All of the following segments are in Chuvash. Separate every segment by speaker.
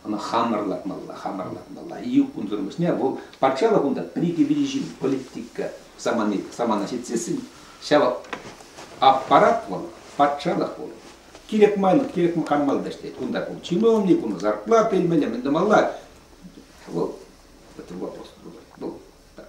Speaker 1: Ӑна хамӑр лартмалла, хамӑр лартмалла. Июк кунсӑрӑн пуҫне вӑл патшалӑх унта пӗр-икӗ виҫӗ ҫын политика самани, самана ҫитсессӗн ҫав аппарат вӑл, патшалӑх вӑл. Кирек майлӑ, кирек каммалла ӗҫлет. Кунта пул чи мелни, кунта зарплата илмелле, мӗн тумалла. Вӑл, это вопрос другой. Был так.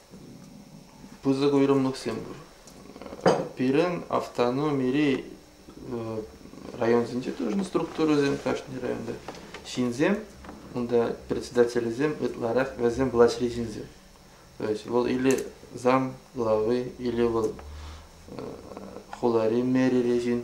Speaker 2: пысӑк уйрӑмлӑхсем пур. Пирӗн автономири районсенче тоже структурӑсем кашни районта. Ҫынсем, унта председателӗсем ытларах вӗсем влаҫри ҫынсем. То есть вӑл или зам главы, или вӑл хулари мэрири ҫын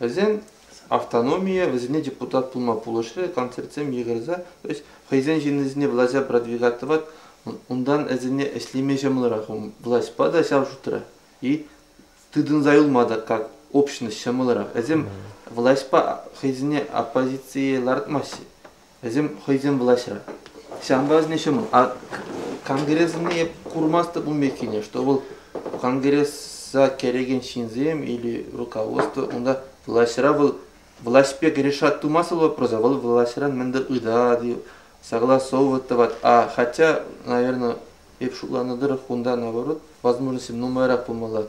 Speaker 2: Вӗсен автономийӗ вӗсене депутат пулма пулӑшрӗ, концертсем йыхӑрса, то есть хӑйсен ҫыннисене влаҫа продвигать тӑвать, унтан ӗсене ӗҫлеме ҫӑмӑлрах. Влаҫпа та ҫав шутра и тытӑнса юлма та как общность ҫӑмӑлрах. Вӗсем влаҫпа хӑйсене оппозицие лартмаҫҫӗ. Вӗсем хӑйсем влаҫра. Ҫавӑнпа вӗсене ҫӑмӑл. А конгрессне эп курмастӑп ун пеккине, что вӑл конгресса кӗрекен ҫынсем или руководство, унта влаҫра вӑл влаҫпе решать тумасӑр вопроса, вӑл влаҫран мӗндер ыйтать, согласовывать тӑвать. А хотя, наверное, эп шутланӑ тӑрӑх, унта наоборот возможности нумайрах пулмалла.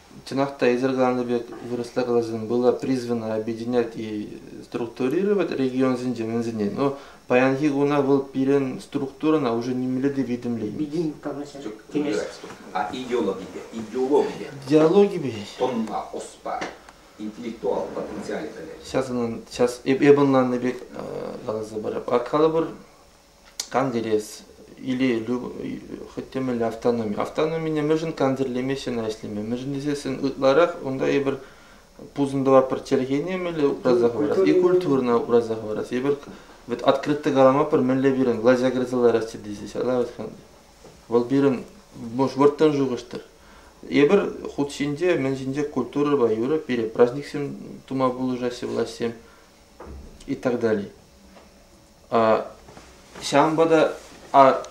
Speaker 2: чӑнах та эсир каланӑ пек вырӑсла каласан было призвано объединять и структурировать регионсенче мӗнсене но паянхи куна вӑл пирӗн структурӑна уже нимелле те витӗмлеймест а
Speaker 1: идеологипе идеологипе
Speaker 2: диалогипе тонна оспа интеллектуал
Speaker 1: потенциалӗ пӗлӗт сейчас ӑнӑн сейчас
Speaker 2: эп эпӗ ӑнланнӑ пек каласа парап а калӑпӑр Кантӗрес, илейлӳ хӑть те мӗнле автономи. Автономине мӗншӗн кантӗрлемеҫҫӗ ӑна ӗҫлеме? Мӗншӗн тесессӗн ытларах унта эпир пусӑнтӑва пӗр чӗлхене мӗнле упраса хӑварас и культурӑна упраса хӑварас. Эпир вӗт открытто калама пӗр мӗнле пирӗн влаҫа кӗрсе лараҫҫӗ тесе ала вӑтханни. Вӑл пирӗн вӑрттӑн шухӑштӑр. Эпир хут ҫинче, мӗн ҫинче культурӑпа юрӑ, пире праҫниксем тума пулӑшаҫҫӗ влаҫсем и так далее. Ҫавӑнпа та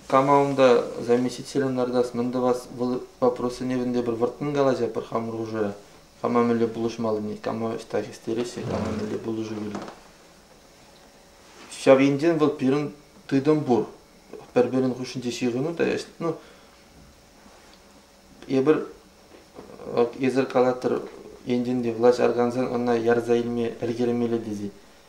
Speaker 2: кама унта заместителӗн лартас, мӗн тӑвас, вӑл вопроссене вӗнте пӗр вӑрттӑн калаҫа пӗр хамӑр хушӑра. Кама мӗнле пулӑшмаллине, кама ӑҫта хистереҫҫӗ, кама мӗнле пулӑшу кӳрет. Ҫав енчен вӑл пирӗн тытӑм пур. Пӗр-пӗрин хушшинче ҫыхӑну та ӗҫ. Ну, эпир эсир калатӑр, енчен те влаҫ аркансан ӑна ярса илме ӗлкӗрмелле тесе.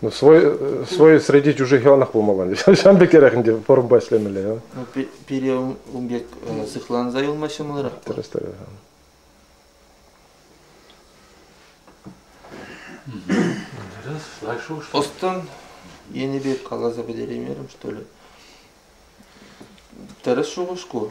Speaker 2: Ну,
Speaker 3: свой, свой среди чужих яланах пулмалла. Ҫавӑн пек эрех ӗнтӗ формпа ӗҫлемелле. Ну, пире
Speaker 2: ун пек сыхланса юлма ҫӑмӑлрах. Тӗрӗс, тӗрӗс.
Speaker 3: Ӑстӑн
Speaker 2: енӗпе каласа пӗтереймерӗм, что ли. Тӗрӗс шухӑш ку.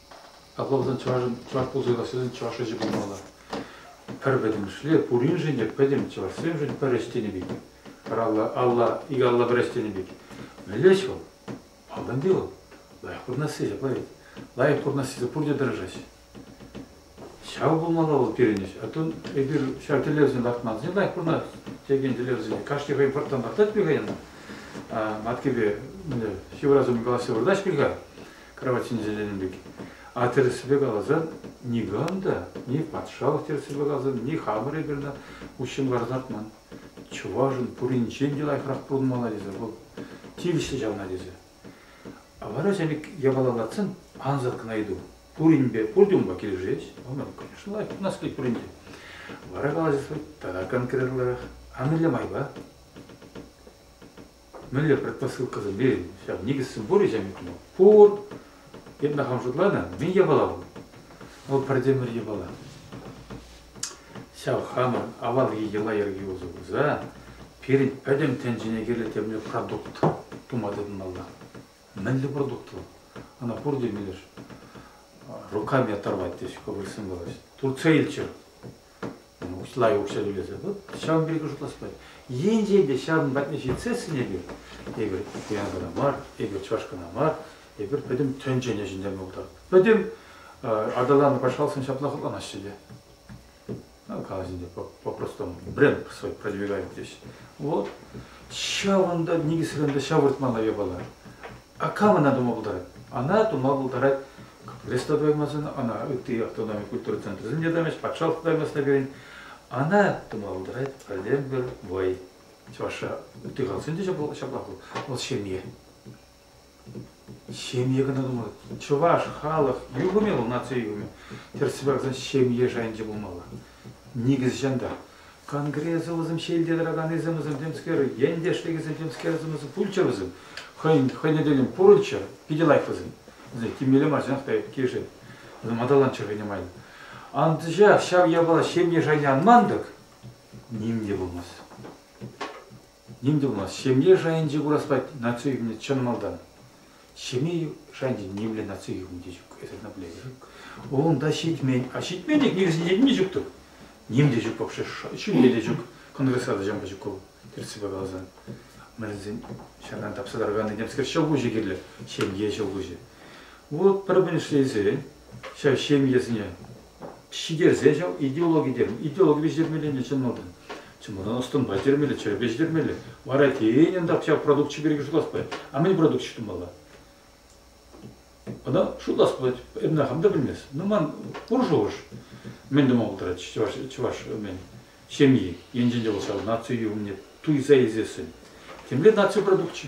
Speaker 4: Апла пулсан чӑвашӑн чӑваш пулса калассишӗн чӑваш ӗҫӗ пулмалла. Пӗр пӗтӗмӗшле пуриншӗн те пӗтӗм чӑвашсемшӗн пӗр ӗҫ тенӗ пек. Пӗр алла, алла, икӗ алла пӗр ӗҫ тенӗ пек. Мӗнле ӗҫ вӑл? Малтанхи вӑл лайӑх курӑнасси ҫапла вӗт. Лайӑх курӑнассине пурте тӑрӑшаҫҫӗ. Ҫав пулмалла вӑл пирӗн ӗҫ. А то эпир ҫав тӗллевсене лартмасен лайӑх курӑнас текен тӗллевсене кашни хӑйӗн вӑрттӑн лартать пек хӑй ӑна. А маткипе ҫывӑрас умӗн калаҫса выртаҫ пек-ха. кравать ҫинче тенӗ пек. А тӗрӗссипе каласан, никам та, ни патшалӑх тӗрӗссипе каласан, ни хамӑр эпир уҫҫӑн лартман. Чӑвашӑн пуринчен те лайӑхрах пурӑнмалла тесе вӑл тивӗҫлӗ ҫавна тесе. А вара ҫав япала лартсан ансат кӑна ыйту. Пуринпе пурте унпа килӗшет? Ӑнӑр, конечно, лайӑх пурӑнас килет пуринче. Вара калаҫас тата конкретлӑрах. А мӗнле майпа? мӗнле предпосылкӑсемпе ҫав никӗссем пур-и пур эпне хам шутланӑ мӗн япала вӑл вӑл пӗртемӗр япала ҫав хамӑр авалхи йӑла-йӗрке усӑ курса пирӗн пӗтӗм тӗнчене кирлӗ темле продукт тума тытӑнмалла мӗнле продукт вӑл ӑна пурте милӗш руками оторвать теҫҫӗ кобальсем калаҫҫӗ турция илччӗр усла укҫа тӳлесе тӑт, ҫавӑн пирки шутласпай. Енчен те ҫавӑн патне ҫитсессӗн эпир, эпир Пензӑна мар, эпир Чӑвашкӑна мар, эпир пӗтӗм тӗнчене ҫӗнтерме пултаратпӑр. Пӗтӗм аталану патшалӑхсем ҫапла хӑтланаҫҫӗ те. Калаҫӑвӗсенче по-простому бренд свой продвигают теҫҫӗ. Вот ҫавӑнта никӗсрен те ҫавӑртмалла япала. А кам ӑна тума пултарать? Ана тума пултарать лесотоймӑсен, ӑна ытти автономи культура центрӗсен те тӑвӗҫ, патшалӑх тоймӑсне кӗрин. Ана тума пултарать пӗртен-пӗр вӑй. Чӑвашша ытти халӑхсен те ҫаплах вӑл. Вӑл ҫемье. Ҫемье кӑна тумалла. Чӑваш халӑх юхӑмӗ вӑл наци юхӑмӗ. Тӗрӗс паракан ҫемье шайӗнче пулмалла. Никӗс ҫан та. Конгресса вӗсем ҫелте тӑраканнисем вӗсем темскер, ентешлекӗсем темскерсем вӗсем пулччӑр вӗсем. Хӑйӗн хӑйне тӗллӗн пурӑнччӑр, питӗ лайӑх вӗсем. Вӗсем тиммелле мар чӑнах та кишӗн. Вӗсем аталанччӑр хӑйне май. Анчах ҫав япала ҫемье шайне анман-тӑк ним те пулмасть. ним тумасть. Ҫемье шайӗнче кураспать наци хӳмне чӑн малтан. Ҫемье шайӗнче нимле наци хӳмни те ҫук, эсӗ ӑна пӗлетӗр. Унта ҫитмен, а ҫитмен тек никӗсне ҫитме ҫук тӑк, ним те ҫук вообще, ҫӳле те ҫук. Конгресра та ҫампа ҫук вӑл, тӗрӗссипе каласан. Мӗншӗн ҫаран тапса тараканни темскер ҫӑлкуҫӗ кирлӗ, ҫемье ҫӑлкуҫӗ. Вот пӗр кун ӗҫлесе ҫав ҫемьесене ҫитерсе ҫав идеологи терӗм. Идеологипе ҫитермелле чӑннӑ Чӑн мана ӑс-тӑнпа ҫитермелле, чӗрепе ҫитермелле. Вара тенӗн тап ҫав продукчӗ пирки шутлас пулать. А мӗн продукчӗ ҫутмалла? Ӑна шутлас пулать, эпна хам та пӗлмест. Ну ман пур шухӑш. Мӗн тума пултарать чӑваш, чӑваш мен, ҫемйи? Енчен те вӑл ҫав наци умне туйса илсессӗн. Темле наци продукчӗ.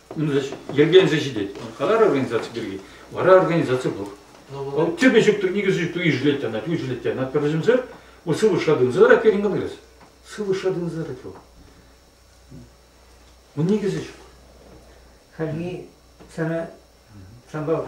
Speaker 4: Ун йӗркеленсе ҫитет. Халар организаци пирки. Вара организаци пур. Вӑл тепе ҫук, никӗсӗ ҫук, ишӗлет те анать, ишӗлет те анать. Пӗр вӗсемсӗр, вӑл сывлӑшра тытӑнсарак пирӗн конгресс. Сывлӑшра тытӑнсарак вӑл. Ун никӗсӗ ҫук.
Speaker 5: Хальхи сана санпа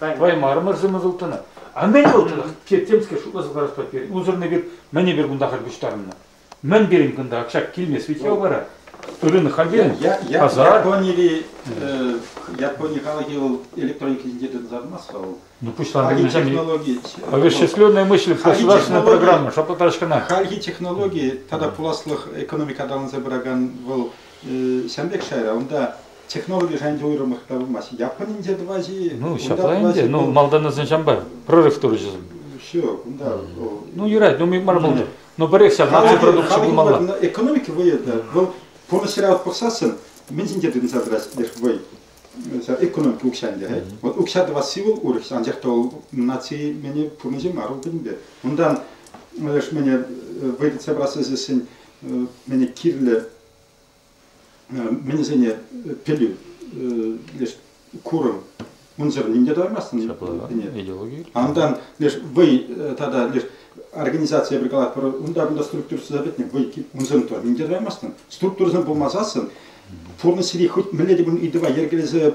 Speaker 4: Ваймарӑмӑрсем ӑсӑлтӑнӑ. А мӗн вӑл чӑнах? Темскер шутласа каласпа пирӗн. Унсӑрӑн эпир мӗн эпир кунта халь пуҫтарӑннӑ? Мӗн пирӗн кунта ак килмест ведь ял вара? Рынок хальтен пасар. Японири
Speaker 1: Япони халӑхӗ вӑл электроника ҫинче тытӑнса тӑмасть-ха вӑл. Ну пуҫланӑ
Speaker 4: технологи Овещественное мыслить государственная программа шапа тачкана. Хальхи технологи
Speaker 1: тата пуласлӑх экономика аталанса пыракан вӑл ҫан пек шайра. Унта Технологи шайӗнче уйрӑмах та пымасть. Японинче тӑваҫ-и? Ну, ҫапла ӗнтӗ.
Speaker 4: Ну, малтаннӑсен ҫампа прорыв турчӗ. Все, кунта.
Speaker 1: Ну, юрать, ну,
Speaker 4: мар пулнӑ. Но пӗрех ҫак наци продукчӗ пулмалла. Экономика вӑйӗ та.
Speaker 1: Вӑл пурнӑҫра пӑхсассӑн мӗн ҫинче тытӑнса тӑрать леш вӑй? экономика укҫанде. Вот укҫа тӑвасси вӑл урӑх, анчах та ол наци мені пурнӑҫы мар ул пӗтӗмпе. Унтан мені вӑй тытса пырас тесессӗн мені кирлӗ Мӗн вӗсене пӗлӳ леш курӑм унсӑр ним те тӑвармастӑн. Ҫапла, идеологи.
Speaker 4: Андан леш
Speaker 1: вӑй тата леш организацие пӗр калах пӗр унта-кунта структурӑсса пӗтнӗ вӑй унсӑн тӑ ним те тӑвармастӑн. Структурӑсем пулмасассӑн пурнӑҫри хӑть мӗнле те пулин ыйтӑва йӗркелесе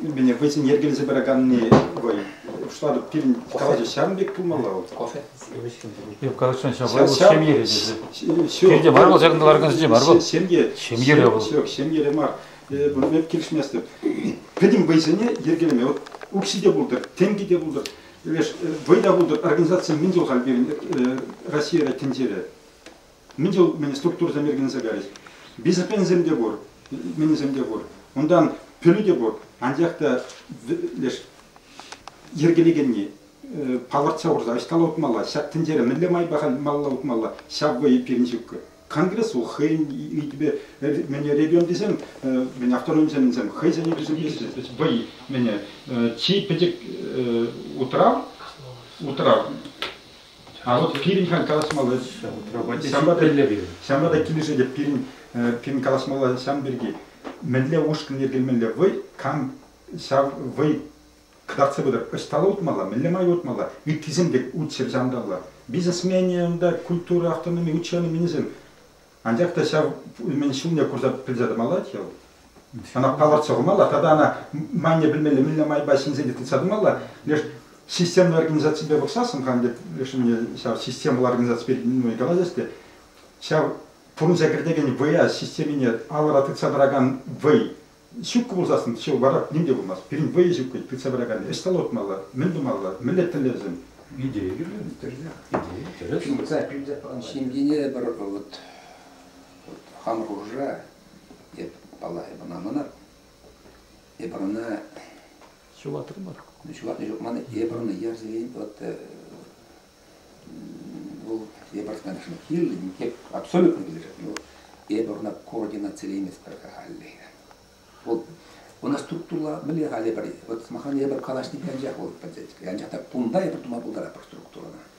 Speaker 1: Мӗне хӑйсен йӗркелесе пыраканни вӑй. Шутлатӑп, пирӗн калаҫу ҫавӑн пек пулмалла
Speaker 4: вот. Калаҫсан ҫапла вӑл ҫемьере тесе. Пирте мар вӑл ҫакӑнта ларакансенче мар вӑл. Ҫемье. Ҫемьере вӑл. Ҫук, ҫемьере мар.
Speaker 1: Эп килӗшместӗп. Пӗтӗм вӑйсене йӗркелеме. Вот укҫи те пултӑр, тенки те пултӑр, вӑй та пултӑр. Организаци мӗн чул халь пирӗн Россия тӗнчере? Мӗн те мӗн структурӑсем йӗркелесе кайрӗҫ. Дисциплинӑсем те пур, минӗсем те пур. Унтан пӗлӳ те пур, анчах та леш йӗркелекенни палӑртса хурса ӑҫталла утмалла, ҫак тӗнчере мӗнле майпа малалла утмалла, ҫав вӑй пирӗн ҫуккӑ. Конгрессу хӑйӗн ыйтупе мӗне регион тесен мӗн автономисем хӑйсен ыйтусемпе вӑй мӗне чи пӗчӗк утрав утрав А вот пирӗн халь калаҫмалла ҫав. Ҫавна та килӗшет те пирӗн пирӗн калаҫмалла ҫав пирки. Мӗнле ушкӑн йӗркелемелле вӑй, кам ҫав вӑй кӑтартса пытӑр. Ӑҫталла утмалла, мӗнле май утмалла, ыттисем те утҫӑр ҫанталла. Бизнесмене унта культура автономи ученыйменӗсем Анчах та ҫав ӳмӗн ҫумне курса пӗлсе тӑмаллать вӑл. Ӑна палӑртса хумалла, тата ӑна майне пӗлмелле мӗнле майпа ҫӗнсе те тытса тӑмалла. Леш системлӑ организаципе пӑхсассӑн хан тет, леш ӳмӗне ҫав системӑлла организаци пирки нумай калаҫас те, ҫав пурӑнса кӗртекен вӑя системине алӑра тытса тӑракан вӑй Ҫуккӑ пулсассӑн ҫӑлтӑрах ним те пулмасть. Пирӗн вӑйӑ ҫуккӑн тытса пыраканни ӑҫта лӑртмалла, мӗн тумалла, мӗнле тӗллевсем? Идея кирлӗ,
Speaker 4: тӗрӗсех. Идея тӗрӗс. Ывӑтса пӳлсе пӑрӑн ҫемьене пӗр
Speaker 6: ывӑт. Вӑт, хам хушӑра эп палла эп ӑна мӑнар. Эпир ӑна.
Speaker 4: Ҫулатрӑмӑр. Ҫулатнӑ ҫук ман.
Speaker 6: Эпир ӑна ярсерен вӑт Вӑл эпӗ ӑна килнӗ никек абсолютно билдерет, но эпӗ ӑна координацилейместпӗр халлӗхе. Вӑл ӑна структура мӗнле халӗ пӗр, вот сӑмахран эпӗ калаҫнипе анчах вӑл пӗлсет, анчах та кунта эпӗ тума пултаратпӑр структурӑна.